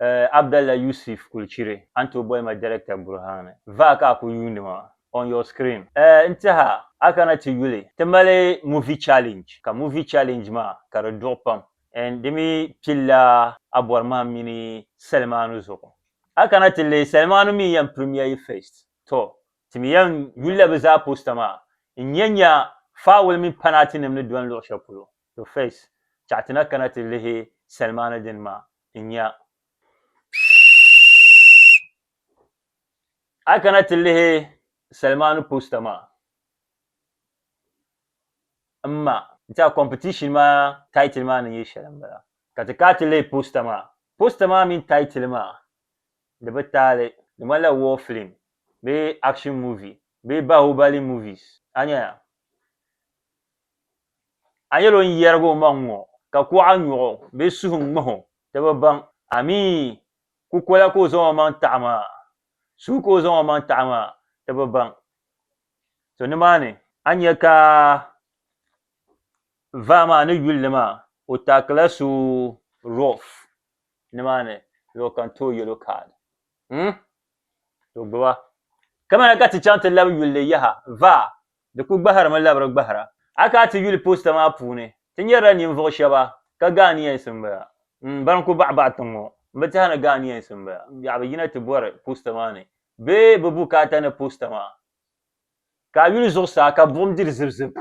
Eh, Abdallah Yusuf Kulchiri a ni tooi boli ma Director Burhan ni. Vaa ka a ku yuundi ma on your screen. Eh, n tiɛha, a kana ti yuli. Ti mali Movie Challenge, ka Movie Challenge maa ka di duɣi pam and di mi pilila a bɔri mahim mini salimaanu zuɣu. A kana ti lihi, salimaanu mi yɛn premiere yi first. Tɔ, ti mi yɛn yulila bɛ zaa poster maa n-nya nya Faawul mini Panaatinim ni dɔni luɣ shɛli polo. To face, chaɣ ti na kana ti lihi salimaani dini maa n-nya. A kana ti lihi salimaani poster maa m-ma. N-ti a competition maa title maa ni nyɛ shɛli m-bala. Ka ti kaa ti lihi poster maa. Poster maa mini title maa di bi taali. Di ŋmanila war film bee action movie bee Bahubali movies. A nya ya? A yɛl o n-yɛrig omaŋ ŋɔ, ka kuɣa nyɔɣ o bee suhu ŋmah o, ti bi baŋ. Amii! Kukola ka o zaŋ omaŋ taɣi maa, suhu ka o zaŋ omaŋ taɣi maa, ti bi baŋ. To nimaani a ni nya ka vaa maa ni yuli li maa, o taakila so Rolf nimaani luɣ kam ti o yɛlo kaad. Hum! To gbiba. Kamina ka ti chaŋ ti labi yuli li yaha, vaa, Di ku gbahirimi labiri gbahira. A ka a ti yuli posta maa puuni, ti nyarila ninvuɣu shɛba ka Ghanaians m-bala m-ban ku baɣi baɣi tiŋ ŋɔ. M bi teha ni Ghanaians m-bala yaɣa bɛ yina ti bɔri posta maa ni bee bɛ bukaata ni posta maa ka a yuli zuɣusaa ka buɣim diri zibizib.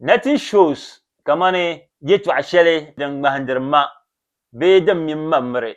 Nothing shows kamani yɛtɔɣa shɛli din ŋmahindiri ma bee din mini ma miri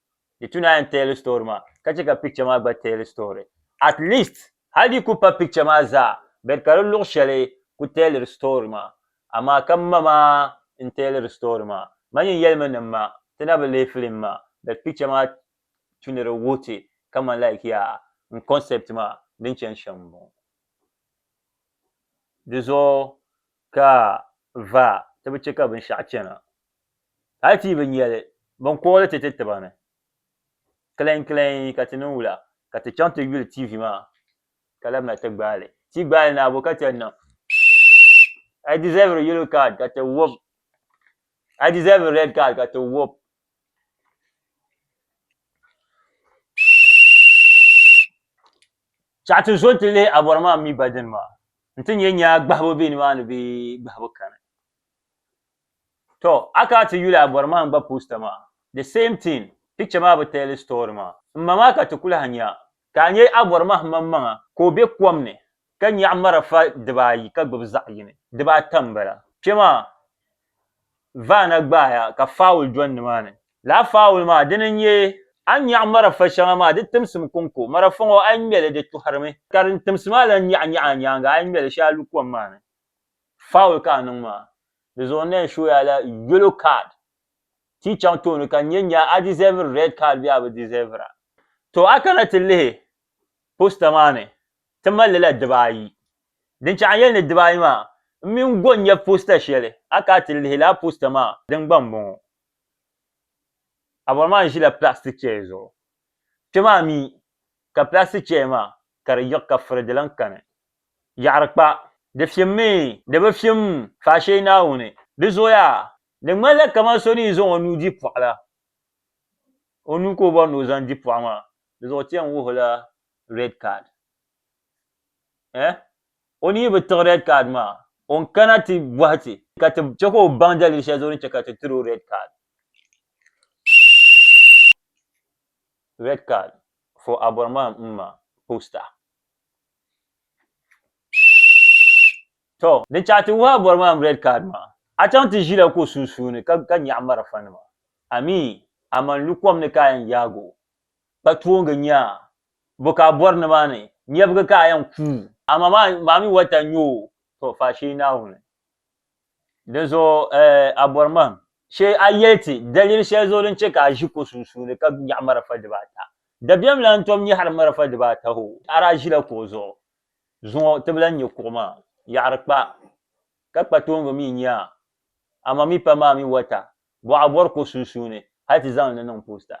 Di tu naan tell story maa ka chɛ ka picture maa gba tell story. At least hal di ku pa picture maa zaa bed ka di luɣ shɛli ku telliri story maa. Amaa ka ma maa n-telliri story maa. Ma nyin yɛlimi ni ma ti na bi leei film maa bed picture maa tu ni di wuhi ti kaman like yaa n concept maa din chani shɛm m-bɔŋɔ. Di zuɣu ka va ti bi chɛ ka binshɛɣu chana. Hali ti yi bi nya li, bɛn kɔhi li ti ti tiba ni, Kilainkilain ka ti niŋ wula ka ti chaŋ ti yuli TV maa ka labina ti gbaai li? Ti yi gbaai li ni abo ka ti yɛn niŋ Pfff! I deserve a yellow card ka ti wɔb I deserve a red card ka ti wɔb Pfff! Chaɣi ti zo nti lihi abɔri maa mi ba dini maa nti nya nyaa gbahibu be nimaani bee gbahibu kani. To a ka a ti yuli a bɔri maa n-gba poster maa. The same thing, picture maa bi teeli story maa. M ma maa ka ti kuli ha nya, ka a nya a bɔri maa m maŋmaŋa ka o be kom ni ka nyaɣi marafa dibaa ayi ka gbubi zaɣ yini, dibaa ata m-bala. Kpe maa Vaana gbaaya ka fowl dɔni ni maa ni. Lala fowl maa dini n-nyɛ, a ni nyaɣi marafa shɛŋa maa di timsim kɔŋko, marafa ŋɔ a yi ŋme li di tuɣiri mi, ka din timsi maa lan nyaɣi nyaɣi a nyaaŋa a yi ŋme li shee a lu kom maa ni. foul ka a niŋ maa di zuɣu n na yɛn show ya la yellow card ti yi chaŋ tooni ka nya nya a deserve red card bee a bi deserve a. To a kana ti lihi poster maa ni ti mali li la diba ayi din chahi n yɛli ni diba ayi maa n mi n go nya poster shɛli a ka a ti lihi laa poster maa din gba n bɔŋɔ a bɔri maa n ʒila plastic chair zuɣu kpɛ maa mi ka plastic chair maa ka di yiɣi ka furi di lahi kani. yaɣiri kpa, di fimmi, di bi fim, faashee Naawuni, di zooya, di ŋmanila kaman so ni yi zaŋ o nuu di pɔɣu la, o nuu ka o bɔri ni o zaŋ di pɔɣu maa, di zuɣu ti yɛn wuhi o la red card. Eh? O ni yi bi tiɣi red card maa, o ni kana ti bɔhi ti ka ti chɛ ka o baŋ dalili shɛli zuɣu ni chɛ ka ti tiri o red card. Red card for Abɔrɔman Mma poster. To, din chaŋ ti wuhi a bɔri maa m-red card maa, a chaŋ ti ʒila ko sunsuuni ka ka nyaɣi marafanima. Amii, a man lu kom ni ka a yɛn yaag o. Kpa tooŋgi nyaa, bo ka a bɔri nimaani, nyɛbigi ka a yɛn kuui. Amaa maa mi wata n-nyɛ o, to faashee Naawuni. Dinzuɣu a bɔri ma shee a yɛli ti daliri shɛli zuɣu din chɛ ka a ʒi ko sunsuuni ka nyaɣi marafa dibaata. Dabiɛm lan tom nyɛ hal marafa dibaata hoo, a daa ʒila kuɣu zuɣu. Zuŋɔ ti bi lan nya kuɣu maa. Yaɣiri kpa, ka kpa tooŋgi mi nya a. A ma mi pa maa mi wata, bɔ a bɔri ko sunsuuni hal ti zaŋ li niŋ posta.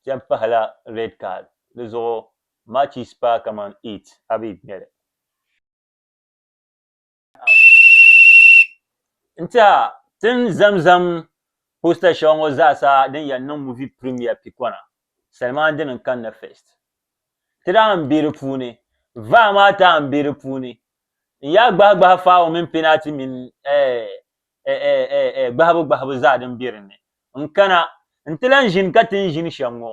Cham pahila red card. Di zuɣu Matches paa kaman eight a bi ŋme li. N ti a tin zamzam poster shɛŋa ŋɔ zaasa din yɛn niŋ movie premiere pikɔna Salman dini n kanna first. Ti daa n be di puuni. Vaa maa taa n be di puuni. N yaa gbahi gbahi faawo mini penalty mini gbahibu gbahibu zaa din be dinni. N kana n ti lan ʒini ka tin ʒini shɛm ŋɔ.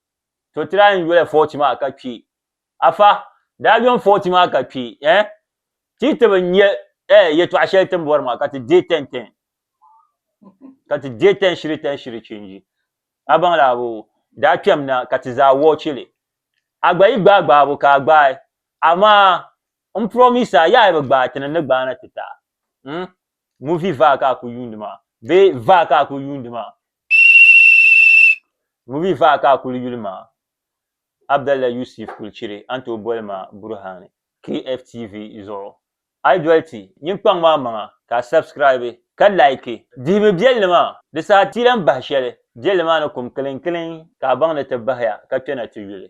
to ti daa yɛn yoli fɔɔti maa ka kpi afa daa yom fɔɔti maa ka kpi eh ti ti bi nya eh yɛtɔɣa shɛli ti ni bɔri maa ka ti deei tɛn tɛn ka ti deei tɛn shiri tɛn shiri chinji a baŋ la abu daa kpɛm na ka ti zaa wɔchi li a gba yi gbaai gbaabu ka a gbaai amaa n promise a yaha bi gbaai ti ni ni gbaana ti taai mm movie vaa ka a kuli yuundi maa bee vaa ka a kuli yuundi maa Movie faha ka a kuli yuli maa, Abdallah Yusuf kuli chiri a ni tooi boli ma Buruhani, KFTV, zuɣu. A yi doli ti nyiŋkpaŋ maa maŋa ka a subscribe ka like. Dihimi biɛlli maa, di saha ti yi lan bahi shɛli biɛlli maa ni kum kiliŋkiliŋ ka a baŋ ni ti bahiya ka kpɛna ti yuli.